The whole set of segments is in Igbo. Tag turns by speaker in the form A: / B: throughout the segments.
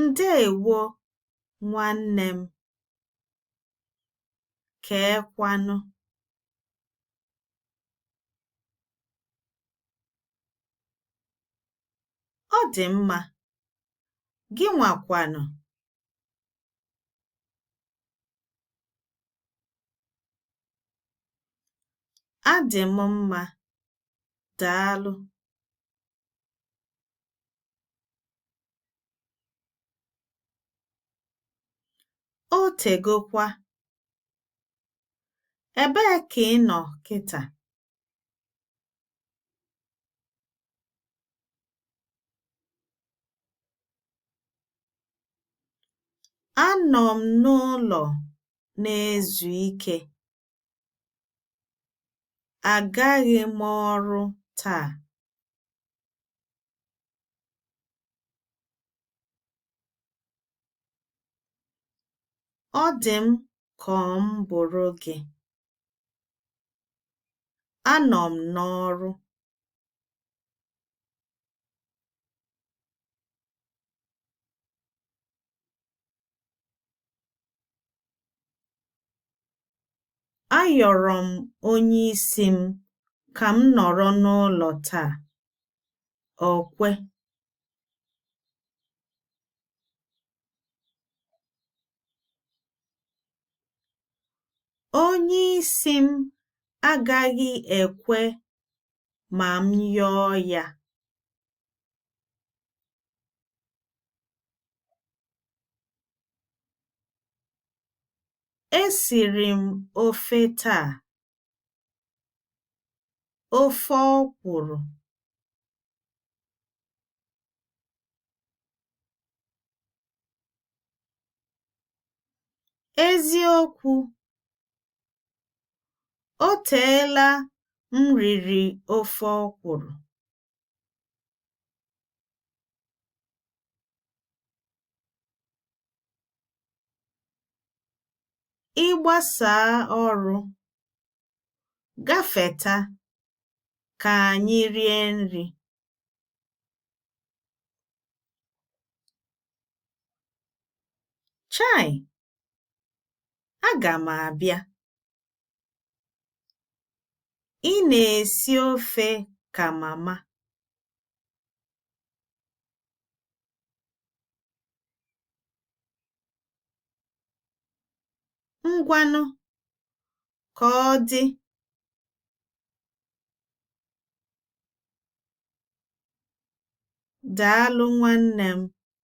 A: Ndeewo nwanne m. Keekwanụ? Ọ dị mma. Gịnwa kwanụ. Adị m mma. Daalụ. O tegokwa. Ebee ka ị nọ kịta? Anọ m n'ụlọ na-ezu ike. Agaghị m ọrụ taa. Ọ dị m ka m bụrụ gị. Anọ m n'ọrụ. Ayọrọ m onye isi m ka m nọrọ n'ụlọ taa. O kwe. Onye isi m agaghị ekwe ma m yọọ ya. Esiri m ofe taa. Ofe ọkwụrụ. Eziokwu. O teela m riri ofe ọkwụrụ. Ị gbasaa ọrụ, gafeta ka anyị rie nri. Chai! Aga m abịa. Ị na-esi ofe ka mama. Ngwanụ, ka ọ dị. Daalụ nwanne m.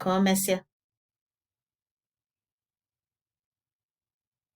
A: Ka o mesịa.